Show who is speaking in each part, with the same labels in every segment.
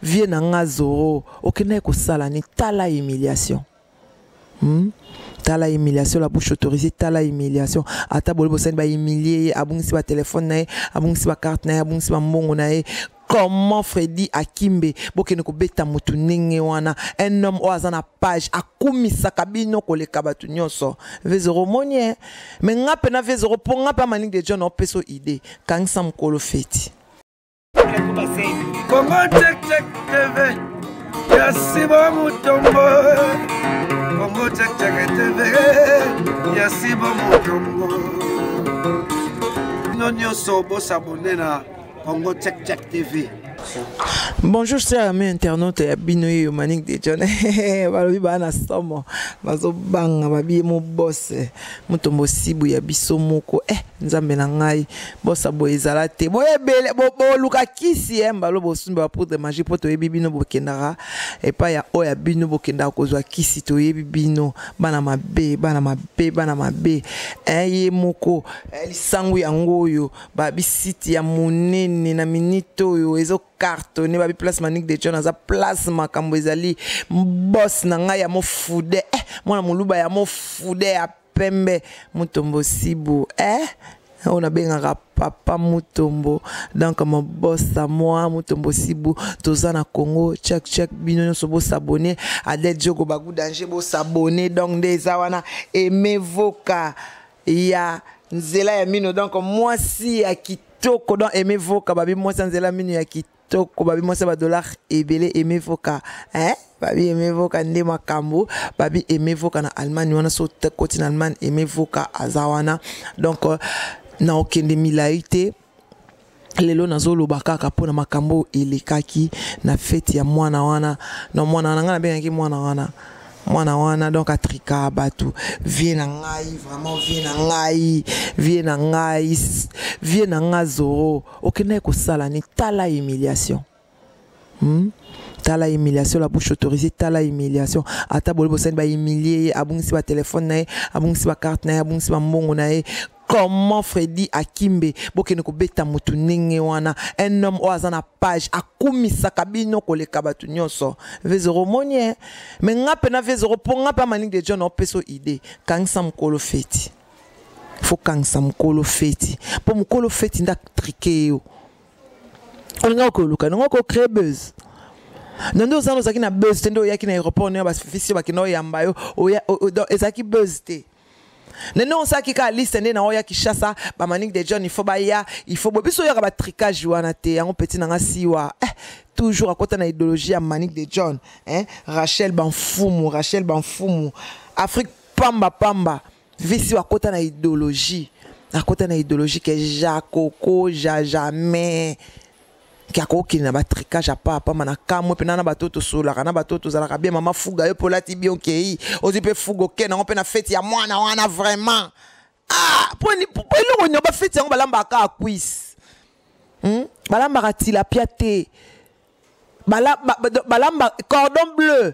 Speaker 1: vie na nga zoro okendaki kosala ni tala humiliation hmm? tala humiliation la bouche autorisée tala humiliation ata boli bosani bahumilie ye abungisi batelefone na ye abungisi bakarte na ye abungisi bambongo na ye comment fredi akimbe bokende kobeta motu ndenge wana un homme oyo aza na page akumisaka bino koleka bato nyonso vezoro omoni e me nga mpe na vezoro mpo nga mpe amalingi de john opesa idée kangisa mokolo feti
Speaker 2: Congo Check Check TV ya Simba Mutombo Congo Check Check TV ya Simba Mutombo bino nyonso bosabone na Congo Check Check TV
Speaker 1: bonjour cher ami internaute ya bino yeyo manik de john balobi baa na somo nazobanga babiye mobose motombo sibu ya biso moko e eh, nzambe na ngai bosa boye ezala te boye ebele boluka kisi ye mbalo bosumbi ba poudre magie mpo toyebi bino bokendaka epai ya oyo ya bino bokendaka kozwa kisi toyebi bino bana mabe bana mabe bana mabe eh, ye moko eh, lisangu yango oyo babisiti ya monene na minite oyo ezo cartonne babi place manique de john aza place makambo ezali bos na ngai ya mofude eh, mwana moluba ya mofude ya pembe mutombo sibu eh oyo nabengaka papa mutombo donc mobosa mwa mutombo sibu toza na congo chak chak bino nyonso bosabone adel jogo bagu danger bosabone donc nde eza wana emevoka ya nzela ya mino donc mwasi ya kitoko donc emevoka babi mwasi ya nzela mino ya kitoko toko babi mwasi ya badollar ebele emevoka eh? babi emevoka nde makambo babi emevoka na allemagne wana so koti na allemagne emevoka aza wana donc euh, na okende milai te lelo nazoloba kaka mpo na makambo oyo elekaki na feti ya mwana wana na mwana wana ngai nabengaki mwana wana mwana wana donc atrika bato vie na ngai vraiment vie na ngai vie na ngai vie na ngai zoro okendaki kosala ni tala humiliation hmm? tala humiliation la bouche autorisée tala humiliation ata boli bosani bahumilie ye abungisi batelefone na ye abungisi bakarte na ye abungisi bambongo na ye comment fredi akimbe bokende kobeta motu ndenge wana un homme oyo aza na page akumisaka bino koleka bato nyonso vezoro omoni e eh? me nga mpe na vezoro mpo nga mpe amalingi de john opesa idée kangisa mokolo feti fokangisa mokolo feti mpo mokolo feti nde atrike yo olinga okoluka nango okocree buzz na nde ozana ozalaki na buzz te nde oyaki na aéroport nde bafisi yo bakenda oyamba yo ezalaki buzz te na nde osalaki kaka liste nde na oya kishasa bamanik de john ifo baya ifo bo biso oyaka batricage wana te yango peti na nga siwa eh, toujours akota na idéologie ya manik de john eh, rachel banfumu rachel banfumu afrique pamba pamba visi akota na idéologie akota na idéologie ke jakoko ja jamais ke akokende na batricage ya papa ma na kamwe mpena na bato tosololaka na bato tozalaka bien mama fuga yo mpe olati bien okei ozwi mpe fuga okei nango mpe na feti ya mwana wana vraiment ah mpo eloko nio bafeti yango balambaka kaka kwise hmm? balambaka tilapia te balamba cordon bleu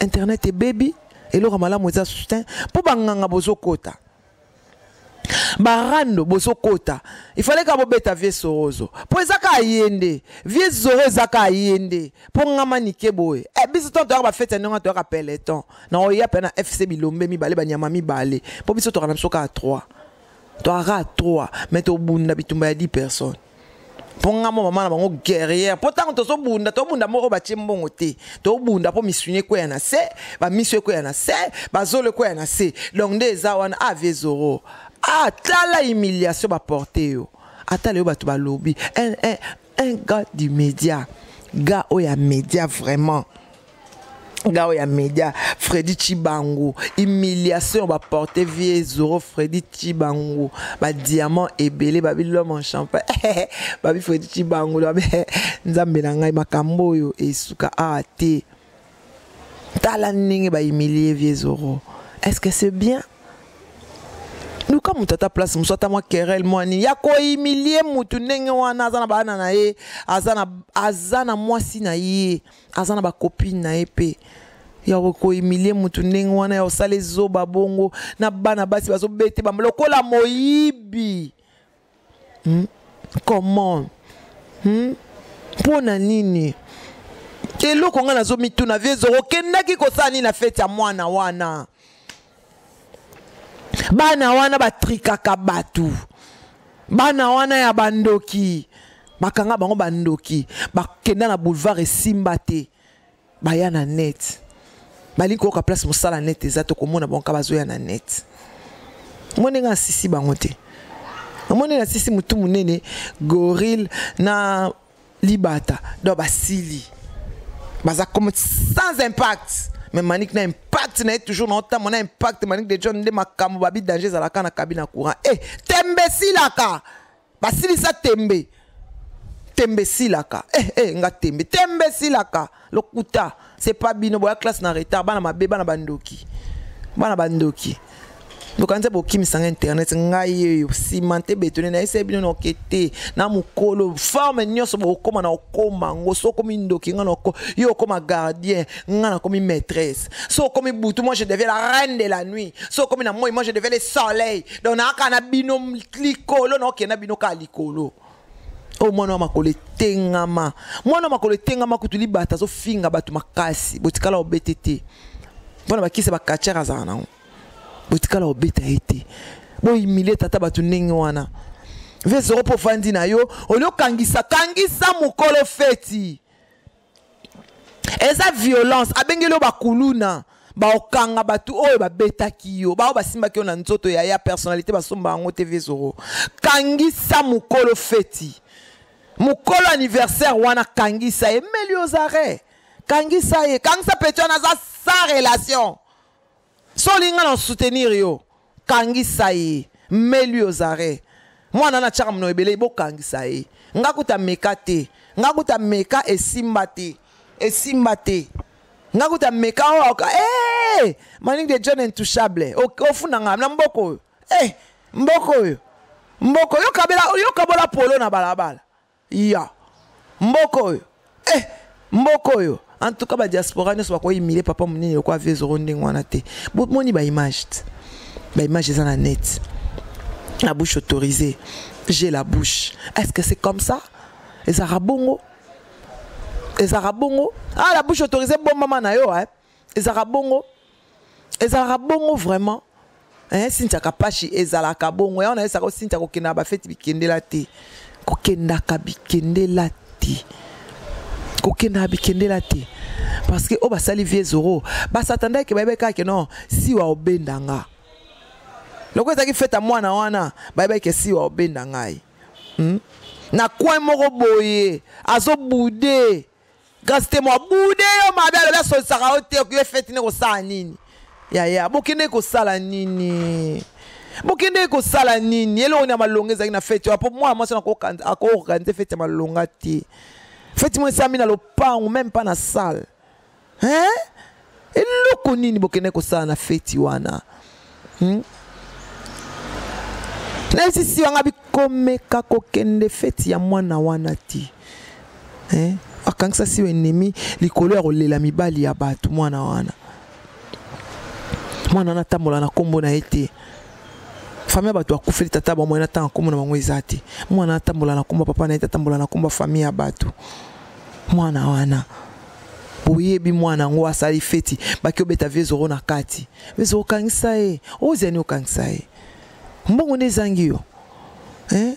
Speaker 1: internet ebebi eloko malamu eza soutien mpo banganga bozokota barando bozokota ifale ka bobeta vie sorozo mpo eza kaka ye nde vie zoro eza kaka ye nde mpo ngama nike boye e biso ntango toyaka bafeti ya ndenge wana toyaka peleton na oya mpe na fc bilombe mibale banyama mibale mpo biso tokana biso kaka 3 toaka 3 mais tobunda bitumba ya 10 personnes mpo nga mo mama na bango guerrière mpo ntango tozobunda tobunda moko batye mbongo te tobunda mpo misuni ekweya na se bamiso ekweya na se bazolo ekweya na se donc nde eza wana avie zoro atala ah, humiliation baporte yo atala yo bato balobi un, un, un gars du média gars oyo ya média vraiment gao ya media fredi chibangu humiliation baporte vie zoro fredi chibangu badiamant ebele babi lome en champagne babi fredi chibangu babi nzambe na ngai makambo oyo esuka awa te tala ndenge bahumilie vie zoro est ce que c'est bien luka moto ata place mosusu ata mwa kerel mwa nini ya kohumilie motu ndenge wana aza na bana na ye aza na mwasi na ye aza na bacopine na ye mpe ya kohumilie motu ndenge wana ya kosala ezoba bongo na bana basi bazobete bamba lokola moyibi hmm? comment hmm? mpo na nini eloko ngai nazomituna vie ezoko okendaki kosala nini na feti ya mwana wana bana wana batrikaka bato bana wana ya bandoki bakanga bango bandoki bakenda na boulevard esimba te baya na net balingi koyoka place mosala net eza tokomona bango ka bazoya na net omoni ndenge asisi bango te omoni nasisi motu monene gorille na libata donc basili baza comme sans impact mais manik na impact na ye toujours na otambo na impact manik de john nde makambo babi danger ezalaka na kabi na courant e eh, tembe esilaka basilisa tembe tembe esilaka e eh, e eh, nga tembe tembe esilaka lokuta c'est pas bino boya classe na retard bana mabe bana bandoki bana bandoki bokanisa bokimisanga internet ngai oyo simante betone nayesai bino noke te na mokolo forme nyonso bokokoma na okoma yango so okomi ndoki ngai nako yo okoma gardien ngai nakomi maîtresse so okomi butu moi je deviens la reine de la nuit so okomi na moi moi je deviens le soleil donc naaka na bino likolo naokenda bino kaka likolo oyo mwana wa makolo etengama mwana wa makolo etengama kutu libata azofinga bato makasi botikala obete te mpo na bakisa bakatiere azala nango botikala obeta ye te boyimilie tata bato ndenge wana vesero mpo ofandi na yo olio kangisa kangisa mokolo feti eza violence abengeli yo bakuluna baokanga bato oyo babetaki yo baoyo basimbaki yo na nzoto ya ya personnalité basomba yango te vezoro kangisa mokolo feti mokolo anniversaire wana kangisa ye meli ozare kangisa ye kangisa peti wana aza sans relation so olingi nga na soutenir yo kangisa ye mais lui aux arrêts mwana na tiaka mino ebele bokangisa ye nga kuta meka te nga kuta meka esimba te esimba te nga kuta meka oyo oh, hey! Eh, eh, eh! maningi de john intouchable ofunda nga na mboko oyo hey! mboko oyo mboko yokabola polo na balabala Ya mboka oyo eh mboka oyo en tout cas ba diaspora nyonso bako imile papa munene loko ave zoro ndenge wana te bomoni ba image te ba image eza na net la bouche autorisée j'ai la bouche est ce que c'est comme ça ezaka bongo ezaka bongo ah la bouche autorisée bombama na yo eh ezalaka bongo ezalaka bongo vraiment eh, sintia kapashi ezalaka bongo yango nayesaka o sintia kokendaka bafeti bikendela te kokendaka bikendela te kokendaka bikendela te parce que oyo basali vie zoro basatanda eke bayebaki kaka non siwa obenda nga lokola ezalaki feta mwana wana bayebaki ke siwa obenda ngai hmm? na coin moko boye azobude kasi te mwa bude yo mabe alobi asolisaka yo te okoye feti nde kosala nini yaya bokendeki kosala nini bokendeki kosala nini eloko nini ya malonga ezalaki na feti wana mpo mwana mwasi wana akoorganize feti ya malonga te feti mwa esami na lopango meme mpa na sale hein eloko nini bokende kosala na feti wana hmm? naisisi wanga bikomeka kokende feti ya mwana wana ti eh? akangisa si enemi likolo ya kolela mibali ya bato mwana wana mwana wana atambola na nkombo na ye te fami ya bato akufeli tata bango ye natanga nkombo na bango eza te mwana atambola na nkombo papa na ye te atambola na nkombo ya fami ya bato mwana wana oyebi mwana yango asali feti baki obeta vie zoro na kati vie zoro okangisa ye oziani okangisa ye mbongo nde ezangi yo eh?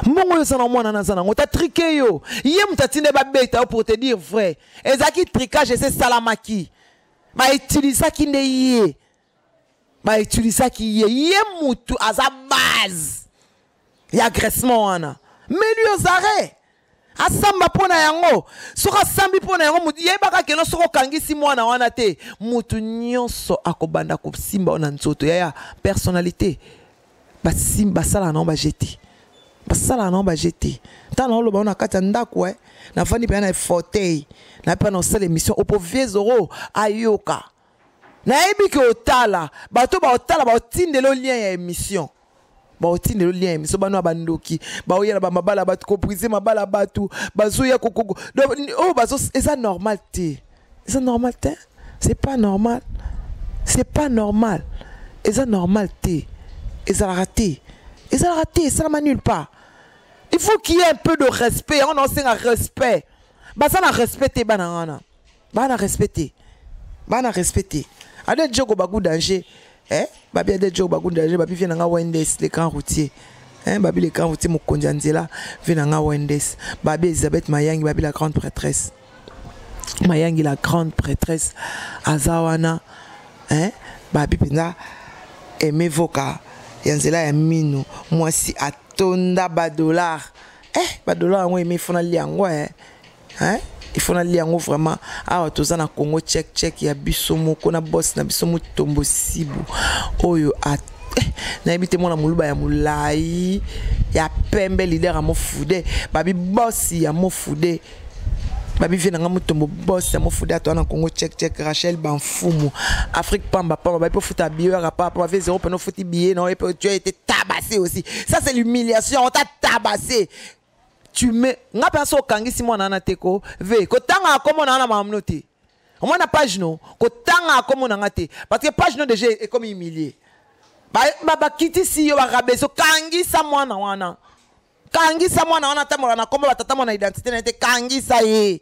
Speaker 1: mbongo oyo oza na mwana na aza nango tatrike yo ye moto atinde babeta yo pour te dire vrai ezalaki tricage ese esalamaki bautilisaki nde ye bautilisaki ye ye mutu aza base ya agressement wana meli ozare asamba mpo na yango soki asambi mpo na yango motu yebaka keno soki okangisi mwana wana te motu nyonso akobanda kosimba yo na nzoto yaya personnalité basalaka nango baje te basalaka nango baje te ntango naoloba yo na kati ya ndako e eh, nafandi mpenza na fauteuil nayebi mpe na osala émission opoviezoro ayoka nayebi ke otala bato baotala baotindelo lien ya émission baotindelo lien ya émission bano ya bandoki baoya na bamabala bato kobrise mabala bato bazoya kokoko oyo oh, bazo eza normal te eza normal te c'est pas normal c'est pas normal eza normal te ezalaka te ezalaka te esalama nulle part il faut qu'il y ait un peu de respect yango naosenga respect baza na respect te bana wana bana respect te bana respect te ade djoko bagu danger eh? babi ade djoko bagu danger babi vie na nga wendes le grand routier eh? babi le grand routier mokonzi ya nzela vie na nga wendes babi elisabeth mayangi babi la grande prêtresse mayangi la grande prêtresse aza wana eh? babi mpenza aime voka ya nzela ya mino mwasi atonda badollar eh badollar yango aime fona lia yango eh? hein il faut nalia yango vraiment awa toza na congo check check ya biso moko na boss na biso motombo sibu oyo a eh, nayebi te mwana moluba ya molai ya pembe lider ya mofude babi bosi ya mofude babi vie na ngai motombo bosi ya mofude ato wana congo check check rachel banfumu afrique pamba pamba babi mpo futa biye oyaka papa bavi zero mpena ofuti biye na oye mpe tu as été tabassé aussi ça c'est l'humiliation on t'a tabassé tu me nga mpe aso okangisi mwana wana te ko ve kotanga akomo na wana mamno te omona page no kotanga akomo na nga te parce que page no déjà ekomi humilie bakitisi yo barabeso kangisa mwana wana kangisa mwana wana atambola na nkombo batata mwana identité na ye te kangisa ye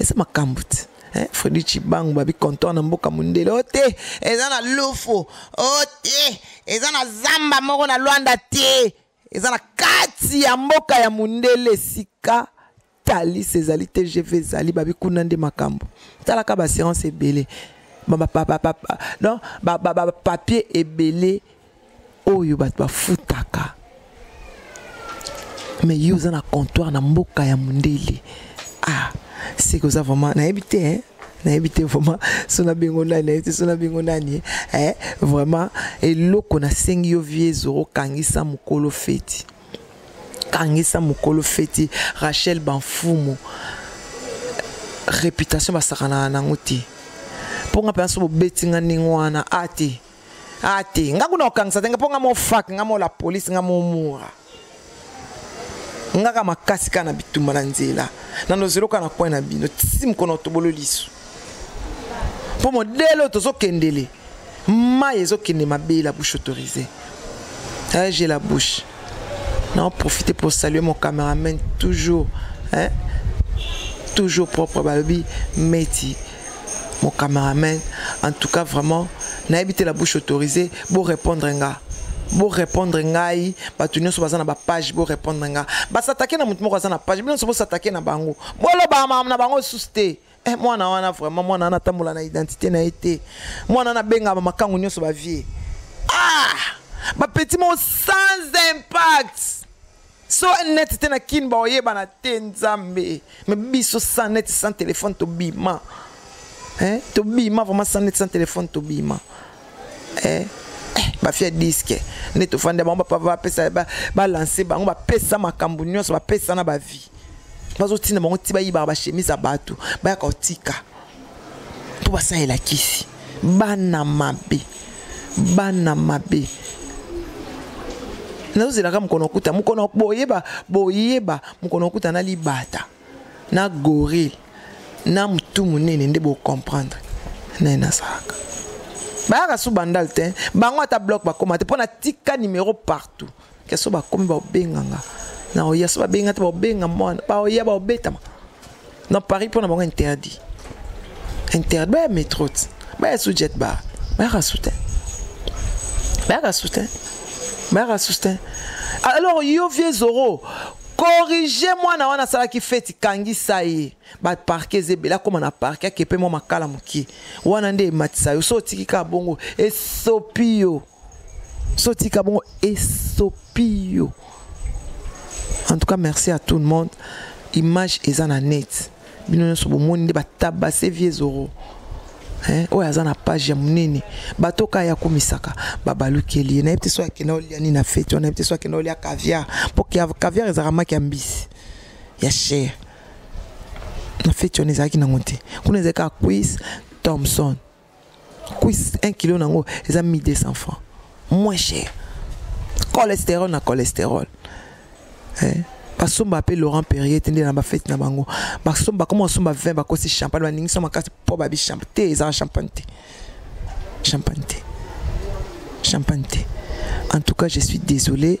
Speaker 1: eza makambo te eh, fredi cibangu babi contor na mboka mondele o te eza na lufu o te eza na zamba moko na lwanda te eza na kati ya mboka ya mondele esika talis ezali tgv ezali babi kuna nde makambo talaka baassurance ebele donc bapapier ebele oyo bato bafutaka me yo oza na comptoire na mboka ya mondele ah seke oza vraiment nayebi te eh? nayebi te vraiment so na bengo nani nayebi te so na bengo nani eh? vraiment eloko nasengi yo vie zoro kangisa mokolo feti kangisa mokolo feti rachel banfumu réputation basakanaka nango te mpo nga mpenza so bobeti nga ndenge wana a ah, te ah te nga kuna kokangisa te nga mpo nga mofak nga mola polise nga momura ngaka makasi kaka na bitumba na nzela na nozelo kaka na coin na bino tisi mokono tobolo liso mpo modele oyo tozokendele mai ezokende mabe la bouche autorisée eh, j'ai la bouche na profite pour saluer mon cameraman toujours hein? toujours propre balobi meti Mon cameraman, en tout cas vraiment, n'a évité la bouche autorisée, bon répondre nga. Bon répondre ngai, bato nyonso baza na ba page bo répondre nga. Ba s'attaquer na moto moko aza na page, bino bo s'attaquer na bango. Bo lo ba na bango sous te. Eh mwana wana vraiment mwana wana tambola na identité na été. Mwana na benga ba makangu nyonso ba vie. Ah! Ba petit mot sans impact. so net te na kin baoyebana te nzambe me biso sans net sans téléphone tobima eh? tobima vraiment sans net sans téléphone tobima eh? eh, bafia diske nde tofandi ya bango bapesa balanse bango bapesa makambo nyonso bapesa na bavie bazotinda bango ti bayibaka bachemise ya bato bayaka kotika mpo basalela kisi bana mabe bana mabe nazozelaka mokolo okuta mokolo boyeba boyeba mokolo okuta na libata na gorille na motu monene nde bocomprendre naye nazalaka bayaka su bandal te bango ata blok bakoma te mpo natika nimero partout keso bakomi baobenganga na oya so babenga te baobenga mwana baoya baobetama na paris mpo na bango interdit interdit baya metro te baya su jet bar bayaka su te bayaka su te bayaka su te alors yo vie zoro corrige mwana wana asalaki feti kangisa ye baparke eza ebele akóma na parke akepe mwa makala moke wana nde ematisa yo so otiki kaka bongo esopi yo so tika bongo esopi yo en tout cas merci à tout le monde image eza na net bino nyonso bomoni nde batabase vie zoro eh, oyo aza na page ya monene bato kaka ya komisaka babalukeli ye nayebi te so akenda olia nini na feti wana nayebi te so akenda olia caviar mpo caviar ezalaka maki ya mbisi ya chere na feti wana ezalaki nango te kuna ezalaki kaka quis thomson cuisse 1 kilo na yango eza 1200 francs moins cher cholestérol na cholestérol eh? basomba mpe laurent perrier te nde na bafete na bango basomba koma basomba 20 bakosi champagne baningisa makasi mpo babi champagne te ezala champagne te champagne te champagne te en tout cas je suis désolé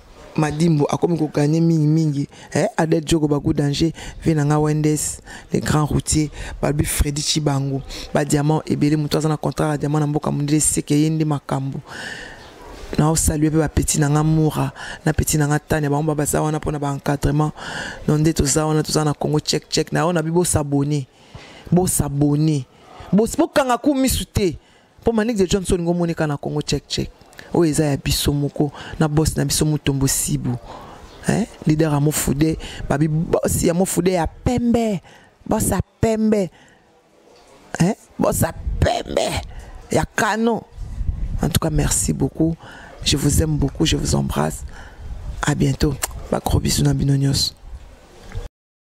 Speaker 1: Madimbo akomi ko gagner mingi mingi eh Adel Djoko Bagu danger vie na nga Wendes le grand routier Balbi Freddy Chibangu ba diamant ebele moto aza na contrat ya diamant na mboka mondele seke ye nde makambo na osalue mpe bapeti na nga mura na peti na nga tania bango ba baza wana mpona baencadrement no nde toza wana toza na congo check check na yo na bi bosabone bosabone bokanga ku misu te mpo manix de johnson ngo omoni kaka na congo check check oyo eza ya biso moko na bosi na biso mutombo sibu eh? leader ya mofude babi bosi ya mofude ya pembe bosi ya pembe eh? bosi ya pembe ya kano en tout cas merci beaucoup je vous aime beaucoup je vous embrasse à bientôt bakro bisous na bino nyonso